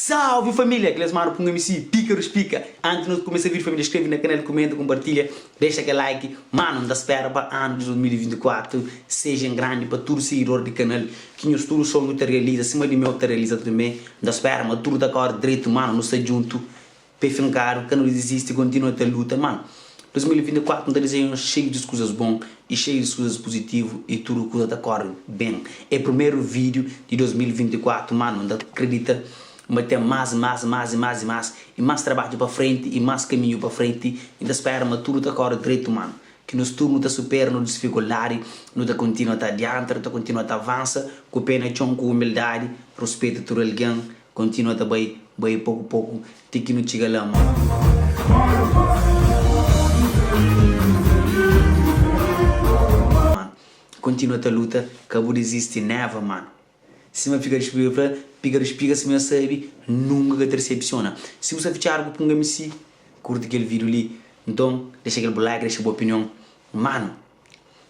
Salve família, aqui é Lesmaro Pum MC, pica dos pica Antes de nos começar vídeo família, inscreve na canal, comenta, compartilha Deixa aquele like, mano, n'ta spera pa ano de 2024 Seja em grande pa tudo seguidor de canal Que nhos tudo sonho ta realiza, sima de meu ta realiza também N'ta spera ma tudo ta corre dreito, mano, nos ta junto Pe finkadu, ka nu dizisti, kontinua ta luta. Má, 2024 N ta dizeia nhos xeiu di kuzas bon i xeiu di kuzas puzitivu i tudu kuza ta kóre ben. É primeru vídiu di 2024 má nu ta kridita ma ten más, más, más i más i más i más trabadju pa frenti i más kaminhu pa frenti. N ta spera ma tudu ta kóre dretu má ki nos tudu nu ta supera nos disfikuldadi, nu ta kontinua ta adianta, nu ta kontinua ta avansa ku pé na txon, ku umildadi, ruspeta tudu algen, Kontinua ta bai, bai poku poku ti ki nu txiga la, manu. Kontinua ta luta, ka bu dizisti neva, manu. Sima fika di spiga, fla piga di spiga sima es sabi nunka ka ta disepsiona. Si bu sta fitxadu ku punga mc, kurti kel vidiu li. Nton, dexa kel bu like, dexa bu opinion, manu.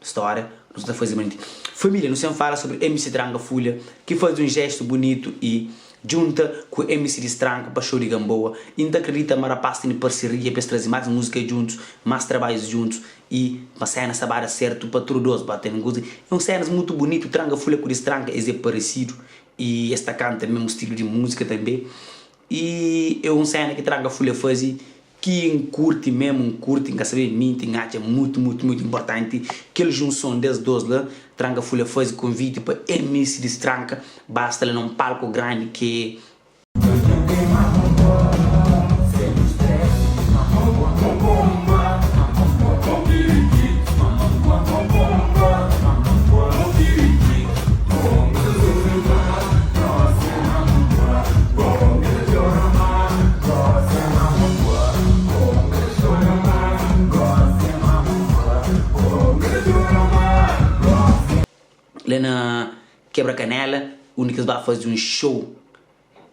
Stória, Nu sa ta faze manti família nu sen fala sobri MC Tranga Fulha ki faze un jestu bunitu i djunta ku MC di Stranku pa xou di Gamboa i N ta kridita ma rapás tene parseria pa es traze más múzika djuntus, más trabadjus djuntus i ma séna sta ba da sertu pa tudu dôs ba tene goze. É un sénas mutu bunitu, Tranga Fulha ku di Stranka es é paresidu i es ta kanta mésmu stilu di múzika tanbê. I e un sena ki tranga fule fazi ki N kurti mesmu, N kurti, N ka sabe minti, N atxa mutu, mutu, mutu inportanti kel junson des dos la. Tranga fule fazi konviti pa ms di stranka basta la na un palku grandi ke. la na kebra kanela undi kes ba fazi un show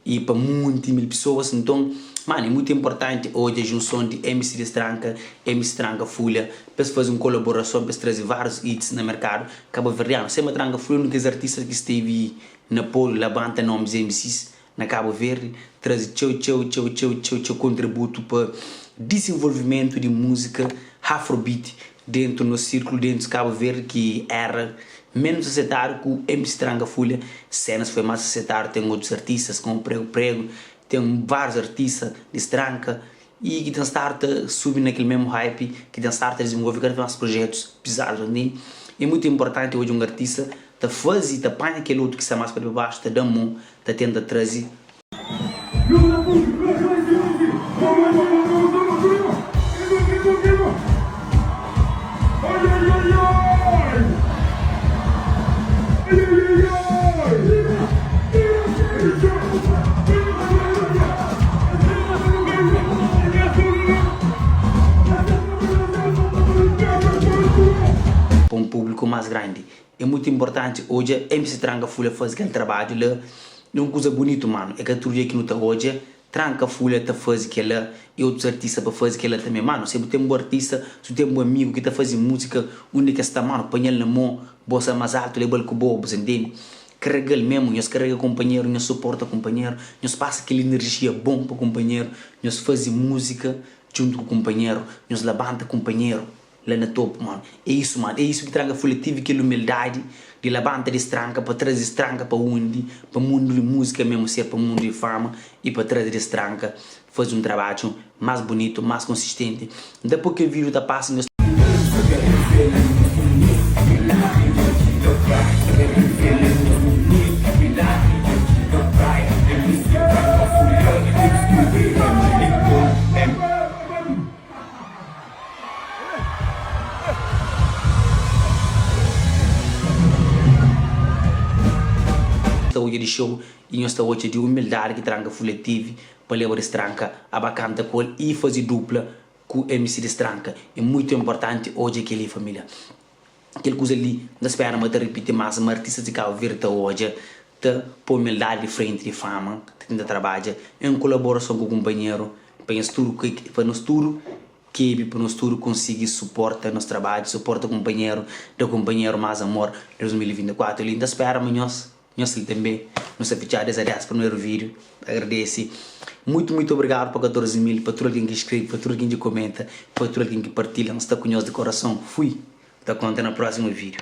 y pa munti mil pisoas nton mano é mutu inportanti odja junson di mc distranka y mc tranka fulha pa es fazi un kolaborason pa es trazi varius hits na merkadu kabaverdianu sema tranka fulha é un di kes artistas ki stevi N apoiu labanta nomes MCs na Cabo Verde, traze txeu txeu txeu txeu txeu txeu kontributu pa disinvolvimentu di musika Hafrobeat dentu nos sirklu dentu Cabo Verde ki era menus asetadu ku MC Tranga Fulha senas foi mas asetadu ten otus artistas komu Prego Prego ten vários artista di stranka y ki ten stadu ta subi na kel mésmu hype, ki ten stadu ta dizenvolve kada vez más projetus pizadu, ta ntende? É mutu inportanti odja un artista ta faze, ta panha kel otu ki sta más pa dibaxu, ta da-m mon, ta tenta traze. Pa un públiku más grandi, é mutu inportanti odja MC Tranga Fula faze kel trabadju la. É un kuza bunitu, mano. É ka tudu dia ki nu ta odja Tranka Fulha ta fazi kela e otus artista pa fazi kela tanbe mano se bu ten bu artista si bu ten bu amigu ki ta fazi musika undi ki es sta mano panhal na mon bosa mas altu lebal ku bo bu ta intendi karagal mesmu nhos karaga konpanheru nhos suporta konpanheru nhos pasa kel inerjia bon pa konpanheru nhos fazi musika djuntu ku konpanheru nhos labanta konpanheru. la na topu mon é isu mon é isu ki tranga fula tive kel umildadi di labanta di stranka pa traze stranka pa undi pa mundu di musika mesmu ser pa mundu di fama e pa traze des stranka faze un trabadju mas bunitu mas konsistenti nta po kel vidu ta pasa nhos ta odja di xeu y nhos ta odja di umildadi ki tranka fule tevi pa leba des tranka aba kanta ku el y faze dupla ku mc des tranka e muitu importanti odja keli familia. Kel kuza li N ta spera ma ta ripiti más ma artistas di Kabu Verdi ta odja, ta poi umildadi di frenti di fama, ta tenta trabadja en kolaborason ku kunpanheru pa nhas tudu ke pa nos tudu kebi pa nos tudu konsigi suporta nos trabadju, suporta kunpanheru, da kunpanheru más amor 2024 li N ta spera ma nhos. Nhos li tanbê nu sta fitxadu des adias primeru vídiu ta agradese muitu muitu obrigadu pa 14 mil pa tudu algen ki skrebe pa tudu algen ki komenta pa tudu algen ki partilha nu sta ku nhos di korason fui ta konta na próxima vídiu.